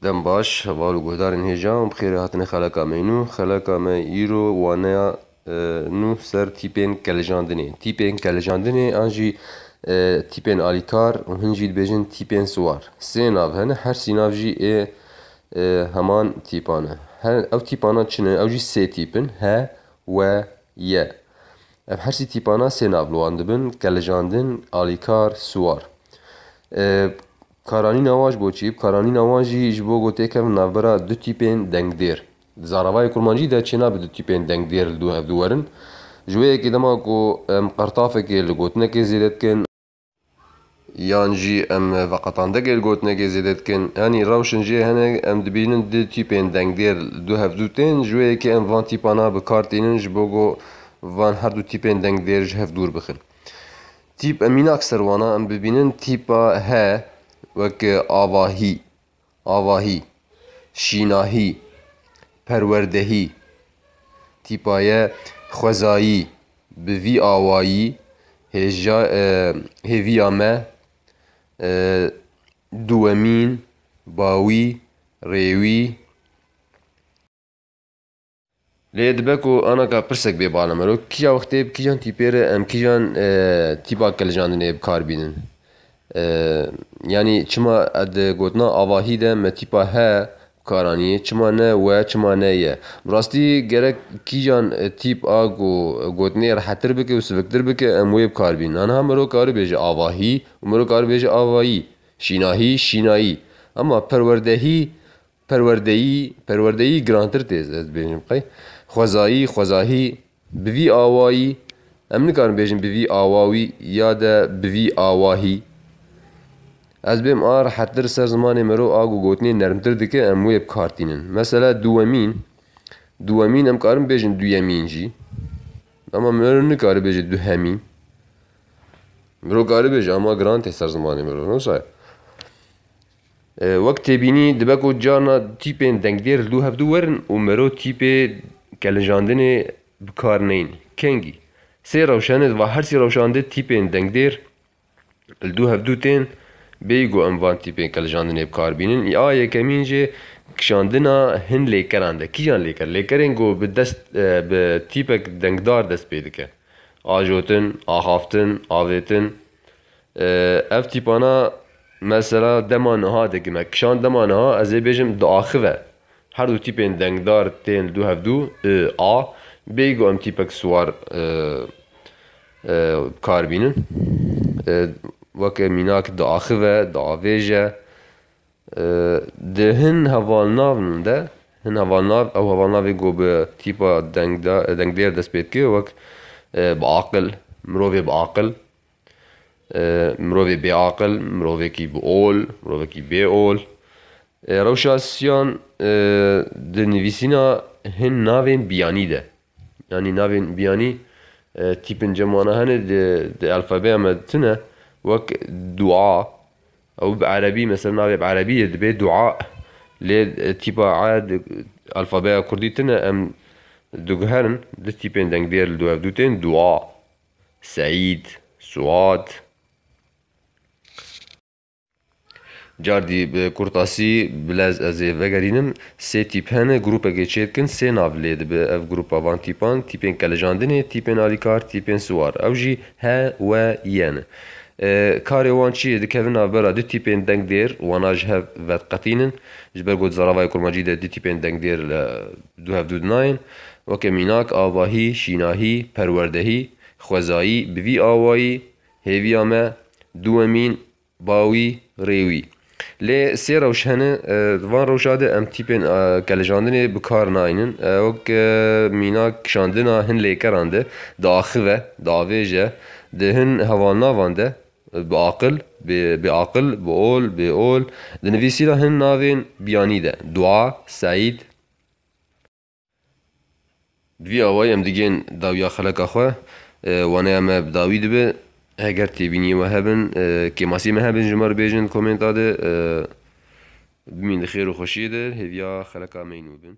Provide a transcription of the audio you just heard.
Dem baş, heval û guhdarên hêjan bi xêrê hatine xeleka me nû. Xeleka me îro waneya nû ser tîpên kelijandinê. Tîpên kelijandinê an jî tîpên alîkar û hin jî dibêjin tîpên siwar. Sê nav hene her sî nav jî ê heman tîpan e. Ew tîpana çi ne? Ew jî sê tîp in, he, we, ye. Ev her sî tîpana sê nav li wan dibin, kelijandin, alîkar, siwar. Karanîna wan ji bo çi? Karanîna wan jî ji bo ku têkevin navbera du tîpên dengdêr. Di zaravayê kurmancî de çênabe du tîpên dengdêr li dû hev dû werin. Ji wê yekê dema ku em qertafekê li gotinekê zêde dikin, yan jî em veqetandekê li gotinekê zêde dikin yanî rewşên jê hene em dibînin du tîpên dengdêr li dû hev dû tên. Ji wê yekê em van tîpana bi kar tînin ji bo ku van her du tîpên dengdêr ji hev dûr bixin. Tîp e mînak ser wana em bibînin tîpa he weke avahî, avahî, şînahî, perwerdehî. Tîpa ye xwezayî bi vî awayî hêja hêviya me duwemîn, bawî, rêwî. Lê dibe ku anaka pirsek bê bala me ro, kîja wextê bi kîjan tîpê re em kîjan tîpa kilijandinê bi kar bînin? Yanî çima di gotina avahî de me tîpa he bi kar anîyê, çima ne we, çima ne ye? Bi rastî gerek kîjan tîp a ku gotinê rehettir bike û siviktir bike em wê bi kar bînin. Aniha miro karibêje avahî û miro karibêje avayî, şînahî, şînayî. Ema perwerdehî Perwerdeyî, perwerdeyî girantir tê ez dibêjim qey. Xwezayî, xwezahî, bi vî awayî, em nikarin bêjin bi vî awawî ya de bi vî awahî. Ez bêm a rehettir ser zimanê mero a ku gotinê nermtir dike em wê bikar tînin. Mesela duwemîn, duwemîn em karin bêjin duyemîn jî. Ama mero nikare bêje duhemîn. Mero kare bêje ama giran tê ser zimanê mero. Wisa ye? Wek têbînî dibe ku carna tîpên dengdêr li dû hev dû werin û miro tîpê kelinjandinê bi kar neyên. Kengî? Sê rewşenê di va her sî rewşan de tîpên dengdêr li dû hev dû tên, bêyî ku em van tîpên kelinjandinê bi kar bînin. A yekemîn jî kişandina hin lêkeran de. Kîjan lêker? Lêkerên ku bi dest bi tîpek dengdar dest pê dike. Ajotin, axaftin, avêtin. Ev tîpana mesela dema niha dikin me kişand dema niha ez ê bêjim diaxive. Her du tîpên dengdar tên li du hev du I, A. Bêyî ku em tîpek siwar bi kar bînin. Weke mînak diaxive, diavêje. Di hin hevalnavn de hin hevalnav ew hevalnavê ku bi tîpa dengdar dengdêr dest pê dike wek bi aqil mirovê bi aqil. Mirovê bêaqil, mirovekî bi ol, mirovekî bê ol. Rewşa Siyan di nivîsîna hin navên biyanî de yanî navên biyanî tîpin cem wana hene di elfebeya me de tune wek dua ew bi erebî mesela navê bi erebî de dibe dua lê tîpa e di elfebeya kurdî tune em diguherin du tîpên dengdêr li dû hev dû tên dua. Seîd, Suad. Cardî bi kurtasî bilez ez ê vegerînim. Sê tîp hene, grûpekê çêdikin, sê nav lê dibe ev grûpa van tîpan, tîpên kelejandinê, tîpên alîkar, tîpên siwar. Ew jî he, we, ye ne. Karê wan çi ye? Dikevin navbera du tîpên dengdêr, wana ji hev vediqetînin. Ji ber ku di zaravayê kurmancî de du tîpên dengdêr li Du hevdû di nayên weke mînak, avahî, şînahî, perwerdehî, xwezayî, bi vî awayî hêviya me duwemîn bawî, rêwî. Lê sê rewş hene, di van rewşa de em tîpên kelijandinê bi kar naynin. Wek mînak kişandina hin lêkeran de diaxive, diavêje, di hin hevanavan de Bi aqil, bê bêaqil, bi ol, bêol. Di nivîsîna hin navên biyanî de, Dua, Seîd. Bi vî awayî em digên dawiya xeleka xwe, waneya me bi dawî dibe. Heger têbînîyê we hebin, kêmasîyê me hebin ji me re bêjin di komênta de. Bimîn di xêr û xweşîyê de, hêviya xeleka me yîn û bin.